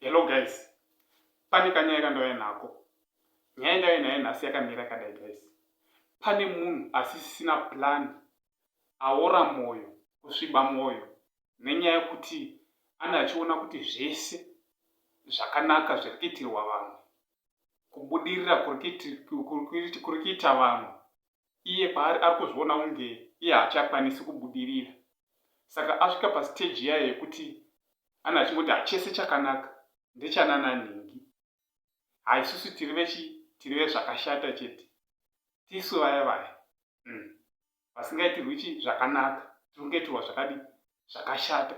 Hello guys, pane kanyaya kandauya nako. Nyaya ndauya nayo nhasi yakamira kadai guys. Pane munhu asisina plan aora moyo kusviba moyo nenyaya yekuti ana achiona kuti zvese zvakanaka zviri kuitirwa vamwe kubudirira kuri kuita vamwe iye paari ari kuzviona kunge iye haachakwanisi kubudirira saka asvika pastage yaye yekuti ana achingoti hachese chakanaka ndechanana nhingi haisusu tiri vechi tiri vezvakashata chete tisu vaya vaya mm. vasingaitirwi chi zvakanaka tiri kungaitirwa zvakadi zvakashata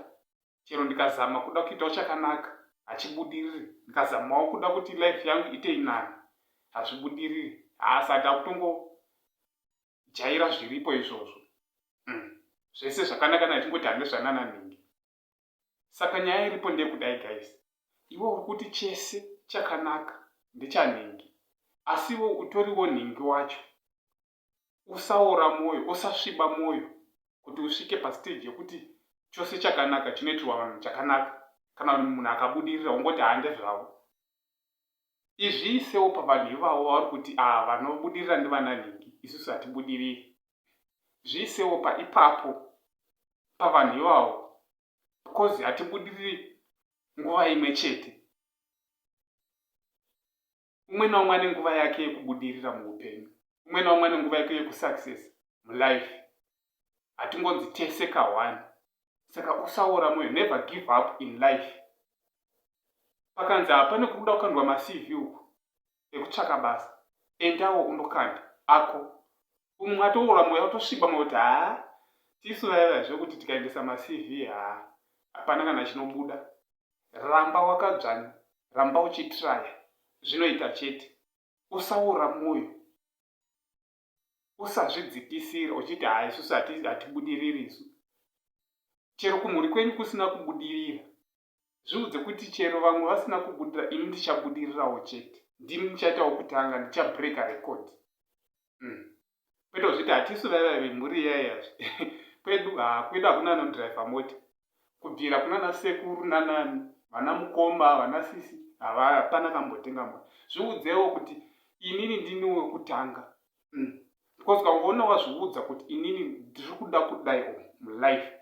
chero ndikazama kuda kuitawo chakanaka hachibudiriri ndikazamawo kuda kuti life yangu ite inani hazvibudiriri haasati akutongo jaira zviripo izvozvo mm. zvese zvakanaka na chingoti hande zvanana nhingi saka nyaya iripo ndeyekudai guys iwe uri kuti chese chakanaka ndechanhingi asiwo utoriwo nhingi wacho usaora mwoyo, usasviba mwoyo kuti usvike pastage yekuti chose chakanaka chinoitirwa vanhu chakanaka. Kana munhu akabudirira ungoti haa ndezvavo. Izviisewo pavanhu ivavo vauri kuti aa vanobudirira ndivana nhingi isusu hatibudiriri. Zviisewo pa ipapo pavanhu ivavo because hatibudiriri nguva imwe chete. umwe naumwe ane nguva yake yekubudirira muupenyu umwe naumwe ane nguva yake yekusuccess mulife hatingonzi tese kahwani saka usaora moyo never give up in life pakanzi hapane kuruda kukandwa macv uku ekutsvaka basa endawo undokanda ako umwe atoora mweya otosviba mwe kuti haa tisu vayava zvekuti tikaendesa macv haa hapana kana chinobuda ramba wakadzvanya ramba uchitraya zvinoita chete usaora mwoyo usazvidzikisira uchiti haa isusu hatibudiriri isu chero kumhuri kwenyu kusina kubudirira Zviudze kuti chero vamwe vasina kubudira ini ndichabudirirawo chete. Ndini ndichaita wokutanga, ndichabreaker record. Mm. Kwete kuzviti hatisu vaiva vemhuri iyayazve. kwedu haa kwedu hakuna anodriver mota. Kubvira kuna nasekuru nanani, vana mukoma, vana sisi, hapana kambotenga mota. Zviudzewo kuti inini ndini wekutanga. Mm. Because ukangoona wazviudza kuti inini ndiri kuda kudai mulife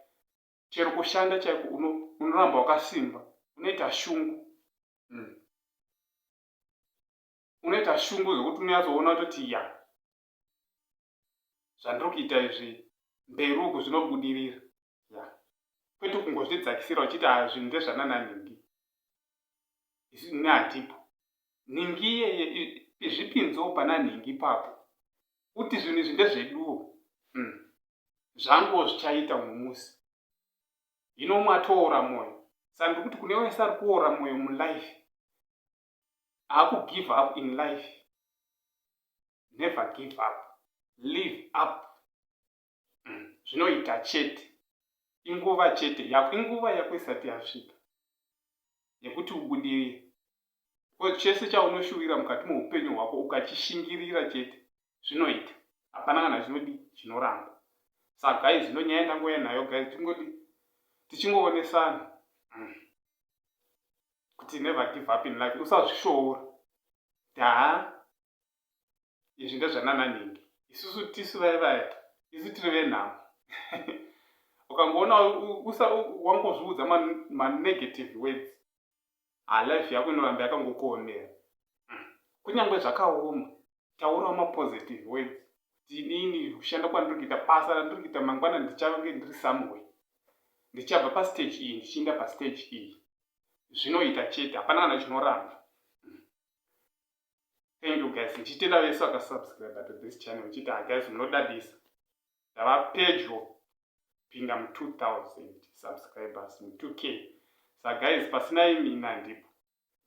chero kushanda chaiko unoramba uno wakasimba unoita shungu mm. unoita shungu zvekuti unoyatsoona kutoti ya zvandiri kuita izvi mberi uku zvinobudirira ya kwete kungozvidzakisira uchiti zvinhu ndezvanananhingi isu natipo nhingi iyeye izvipinzewo pana nhingi ipapo kuti zvinhu izvi ndezveduwo hmm. zvanguwo zvichaita umwe musi hino umwe atoora mwoyo saka ndiri kuti kune wese ari kuora mwoyo mulife akugive up in life never give up live up umm zvinoita chete inguva chete yako inguva yako isati yasvika yekuti ubudirire because chese chaunoshuvira mukati meupenyu hwako ukachishingirira chete zvinoita hapana kana chinodi chinoramba sa guys zvino nyaya ndangouya nayo guys tingodi tichingoonesana mm. kuti never give up in life usazvishoora daa izvi ndezvanana nhingi isusu tisu vaye vaye isu tiri venhamo ukangoona wangozviudza manegative words alife ah, yako inoramba yakangokuomera hmm. kunyange zvakaoma taurawo mapositive words kuti inini kushanda kwandiri kuita basa randiri kuita mangwana ndichange ndiri someway ndichabva pastage iyi ndichiinda pastage iyi zvinoita chete hapana kana chinoramba thank you guys ndichitenda vese vakasubscribe to this channel uchiti ha guys munodadisa ndava pedyo kupinda mu 2000 subscribers mu 2 k sa guys pasina imi ina ndipo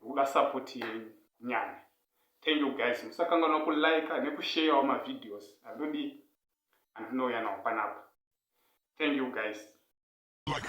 ndikuda support yenyu nyanya thank you guys musakanganwa kulike nekusheyawo mavideos andodii andinouya nawo panapa thank you guys like